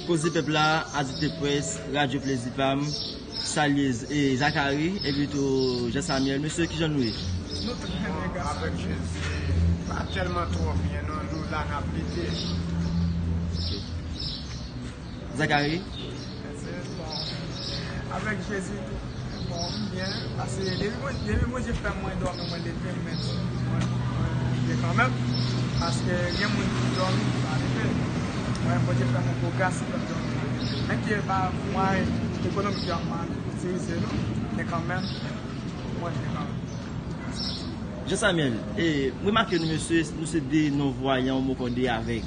Koze pèp la, Adikte Press, Radyo Plezi pa m, salye Zakari epi tou Jan Samyèl. Mesye kijan nou ye? Nou trè byen gras ak Jezi. Pa tèlman twò byen non, nou la n ap lite. Zakari, Jean Samuel, remake nou mesye, nou se 2 non vwayan ou moko 2 avèg.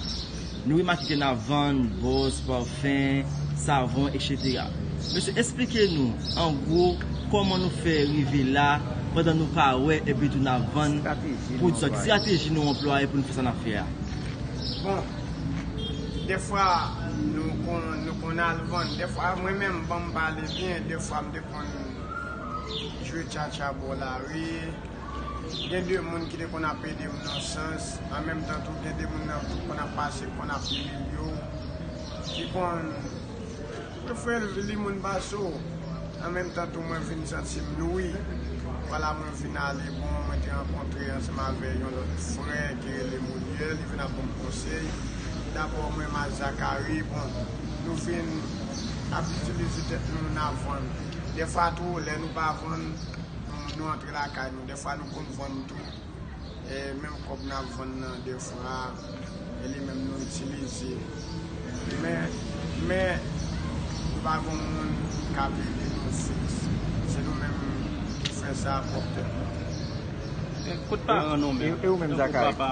Nou remake ke nap vann bòs, parfum, savon etc. Mesye esplike nou an gwo kòman nou fè rive la pandan nou pa wè epi tou nap vann poud sa. Ki strateji nou anplwaye pou nou fè sa nap fè a? Bon Dèfwa nou konn al vann, dèfwa mwen menm banm pale byen dèfwa m te konn jwe tchatcha bò lari. Gen de moun ki te konn ap ede m nan sans, an menm tan tou gen de moun nan ki konn ap pase, konn ap imilye w, ki konn tou fè li moun ba sou w. An menm tan tou mwen vin santi m nouri. Wala mwen vin ale bon, mwen te rankontre ansanm avè yon lòt frè ki rele Molière, li vin ap ban m konsèy. Dabò mwen m a Zacharie, bon, nou vin ap itilize tèt nou nan vann. Dèfwa tou lè nou pa vann, nou antre. Se lakay nou defwa nou konn vann tou e menm kob nap vann nan defwa e li menm nou itilize men men nou pa gon moun kap ede nou fiks se nou menm ki fè sa a pwop tet nou. Kout paran nou menm? Tankou papa.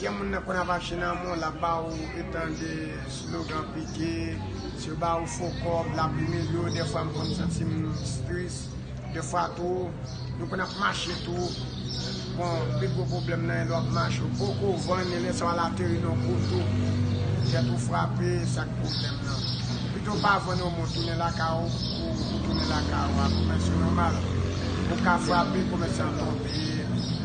Gen moun nan konn ap achte nan mall lap ba ou etan de slogan pike, si yo ba ou fo kob lap imilye ou defwa m konn santi m tris, defwa tou nou konn ap mache tou bon pi gwo pwoblèm nan e lè wap mache ou poko vann e lè sa wal ateri nan koub tou tèt ou frape e sak pwoblèm nan pito pa vann yon mont tounen lakay ou ou tounen lakay ou a komèsyon nòmal ou ka frape komèsyon an tonbe.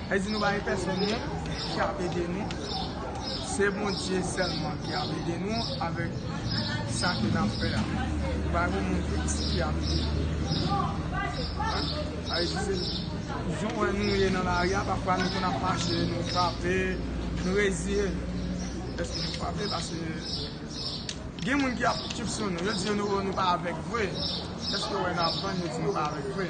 Li di nou pa gen pèsòn moun ki ap ede nou, se Bondye sèlman ki ap ede nou avèk sa ke nap fè a. Nou pa gen moun fiks ki ap ede nou. Jan ou wè nou ye nan lari a, pafwa nou konn ap mache, nou frape, nou reziye nou dèske nou frape paske gen moun ki ap kipsyon nou. Yo di nou, o nou pa avèk vre, dèske yo wè nap vann yo di nou pa avèk vre.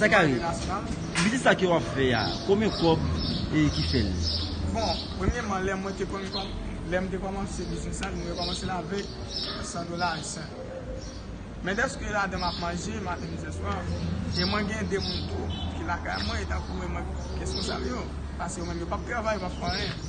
Zakari, biznis sa ke wap fè a, konbyen kòb e ki fèl? Bon, premyeman lè mwen te konn kòm, lè m te kòmanse biznis la, mwen te kòmanse l avèk 100 dola ayisyen. Men dèske ladan m ap manje maten, midi, e swa, e mwen gen 2 moun tou ki lakay mwen, e tankou mwen, mwen gen responsab yo, pase yo menm yo pap travay, yo pap fè anyen.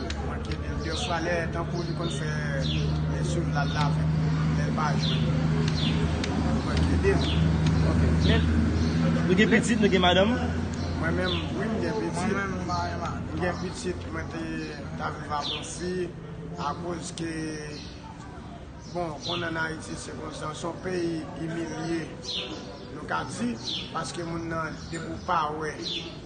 Mwen manke byen dè fwa lè tankou li konn fè jounal la avèk nou lèl pa jwenn mwen manke lil ok men Nou gen pitit nou gen madanm? Mwen menm wi m gen pitit m gen pitit mwen te ta viv ak yon fi akoz ke bon ou konnen an ayiti se konsa se yon peyi imilye nou ka di paske moun nan depi ou pa wè.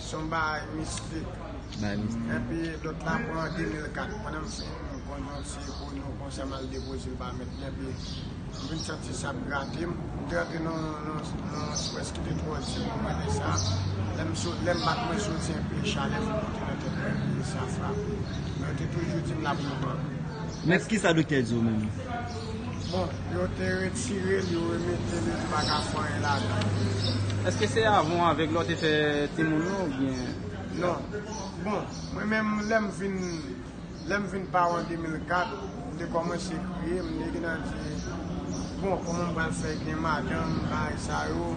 Son baay mistik. Epi lot la pran an 2004. Mwen menm si m konn yon ti oyon konsa m al depoze l ba mèt li epi m vin santi sa ap grate m. M te rantre nan yon swès ki te twò di pou mwen lè sa. Lè m bat mwen soti enpe chalè vin monte nan tèt mwen epi sa frape m. Men yo te toujou di m la pou lontan. Mèt kisa doktè di w menm? Bon yo te retirel yo remetel yo te paka fè anyen ladanl. Eske se avan ou avek la ou te fè timoun ou oubyen? Non. Bon, mwen menm lè m vin lè m vin paran 2004, m te kòmanse kriye, m te gentan di bon kòman m pral fè gen madanm bagay sa yo,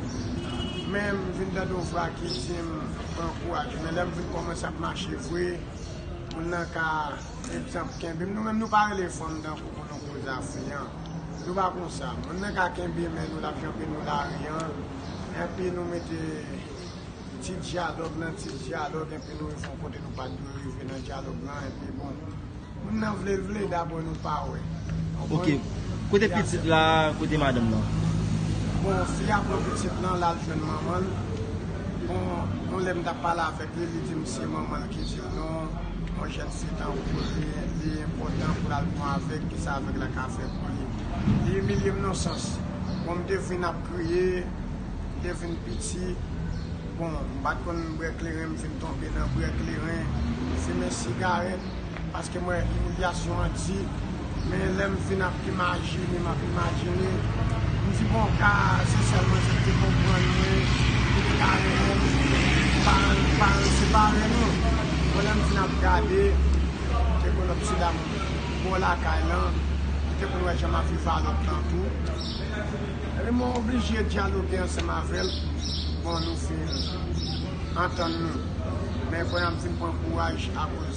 men m vin tande yon vwa ki di m ankouraje men lè m vin kòmanse ap mache vre, moun nan ka. Trip sa ap kenbe m nou menm nou pa rele fanm tankou pou nou koze ase an nou pa konsa moun nan ka kenbe men nou lap janbe nou lari an enpi nou mete ti dyalòg nan ti dyalòg enpi nou rive yon kote nou pat dwe rive nan dyalòg lan enpi bon moun nan vle l vle dabò nou pa wè ok kote pitit la kote madanm nan bon fi a pran pitit lan lal jwenn manman l bon yon lè m tap pale avèk li li di m se manman l Kesyon nou, yon jèn setan ou poze, li enpòtan pou l al pran avèg, ki sa avèg la ka fè pou li. Li imilye m yon sans. Bon, m te fin ap kriye, m te fin piti. Bon, m pa t konn bwè kleren, m fin tonbe nan bwè kleren, fimen sigarèt. Paske m wè imilyasyon an di, men lè m fin ap imajine, m ap imajine, m di bon ka se sèl mwen ki te konprann li, ki te ka renmen li, paran l pa yo separe nou. Bon lè m fin ap gade, m te konn ap sila m bò lakay lan, m te konn wè jan m ap viv a lòt lan tou. Epi mwen oblije dyaloge ansanm avè l, bon nou fin antann nou. Men kounye a m fin pran kouraj akoz.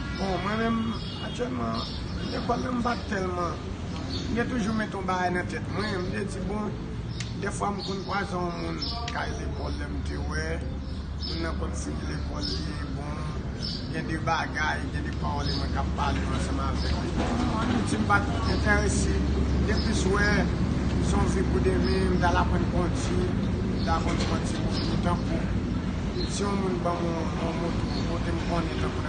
Bon mwen menm aktyèlman lekòl la m pa tèlman, m te toujou mete yon bagay nan tèt mwen, m te di bon dèfwa m konn kwaze yon moun kay lekòl lè m te wè moun nan konn fin lekòl li e bon gen de bagay, gen de pawòl e mwen ka pale ansanm avèk li. Bon an Ayiti m pa t enterese, m te plis wè se yon vi pou demen, m t al aprann kondi, m t al konn pran ti moto tankou si yon moun ban m yon moto, kote m konnen tankou.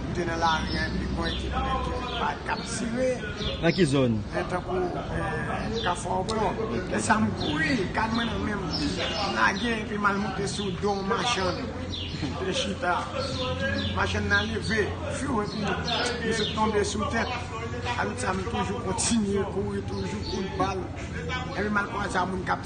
M te nan lari a epi bòy ki plen ki vin bay k ap tire. Nan ki zòn? Nan tankou Kafou Awklò. Lè sa a m kouri, kad mwen nan men m. M lage epi m al monte sou do yon machann ki te chita. Machann nan leve, fyou epi li sot tonbe sou tè. Aloutre sa a m toujou kontinye kouri toujou kout bal. Epi m al kwaze a moun k ap.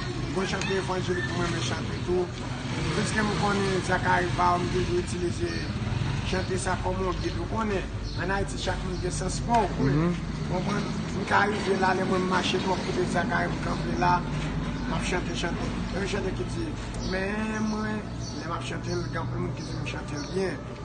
Bon chante evanjelik m renmen chante tou. Piske m konnen Zachary Baugh m toujou itilize chante sa kòm yon bit. Ou konnen an Ayiti chak moun gen sans pa w vre. Ou konprann? M ka rive la lè mwen m mache twòp koute Zachary m kanpe la m ap chante chante. Gen yon chante ki di, Men mwen lè m ap chante l gen anpil moun ki di m chante l byen.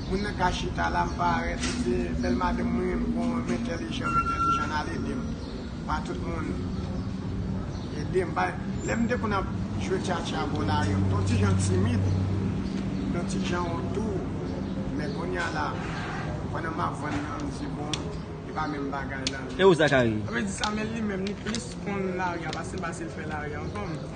Moun nan ka chita la m pa arête li se bèl madanm mwen m gon m entèlijan m entèlijan n al ede m pa tout moun ede m bay lè m te konn ap jwe tya tya bò lari an m te yon ti jan timid m te yon ti jan ontou men konnya la pandan m ap vann nan m di bon e pa menm bagay la. E ou Zacharie? Mwen di sa men li menm li plis konn lari a pase m pase l fè lari a ankò m.